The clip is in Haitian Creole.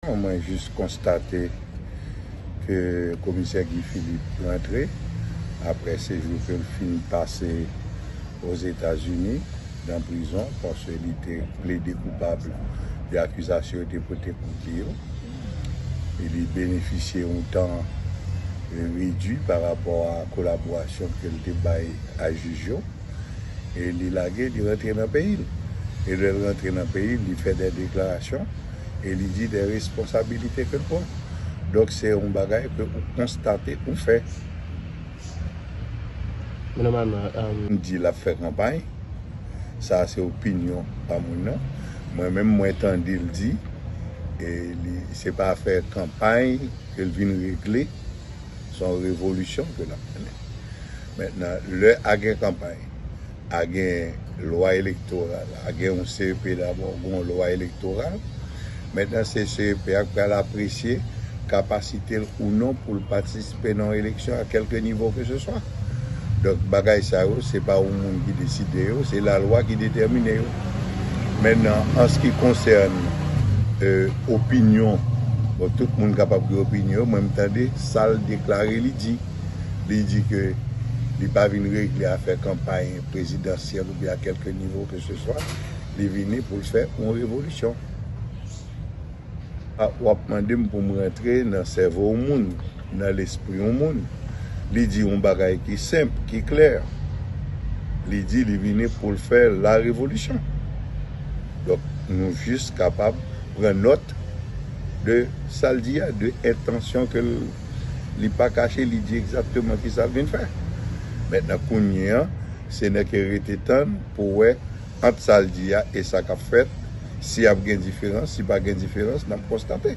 Mwen jis konstate ke komisè Guy Philippe rantre apre sejou ke l fin pase Ozetazini nan prizon paske li te plede koupab de akizasyon yo te pote kont li yo. E li benefisye yon tan redui pa rapò a kolaborasyon ke l te bay a jij yo. e li lage li rantre nan peyi l e lè l rantre nan peyi l li fè dè deklarasyon e li di dè responsabilite ke l pran donk se yon bagay ke ou konstate ou fè. Men nòmalman. M di l ap fè kanpay sa se opinyon pa moun nan mwen menm mwen tande l di e li se pa fè kanpay ke l vin regle se yon revolisyon ke l ap mennen Mentnan lè a gen kanpay, a gen lwa elektoral, a gen yon CEP dabò, gen yon lwa elektoral. Mentnan se CEP a k pral apresye kapasite l ou non pou l patispe nan yon eleksyon a kelke nivo ke se swa. Donk bagay sa yo se pa yon moun ki deside yo, se lalwa ki detèmine yo. Mentnan an s ki konsèn opinyon, bon tout moun kapab gen opinyon, mwen m tande sa l deklare li di. li di ke li pa vin regle afè kanpay prezidansyèl oubyen a kèlke nivo ke se swa, li vini pou l fè yon revolisyon. A, w ap mande m pou m rantre nan sèvo yon moun, nan lespri yon moun. Li di yon bagay ki senp, ki klè. Li di li vini pou l fè la revolisyon. Donk, nou jis kapab pran nòt de sa l di a, de entansyon ke l. Li pa kache, li di egzakteman ki sa l vin fè. Mentnan kounye an, se nè ke rete tann pou wè ant sa l di a e sa k ap fèt, si ap gen diferans, si pa gen diferans, n ap konstate.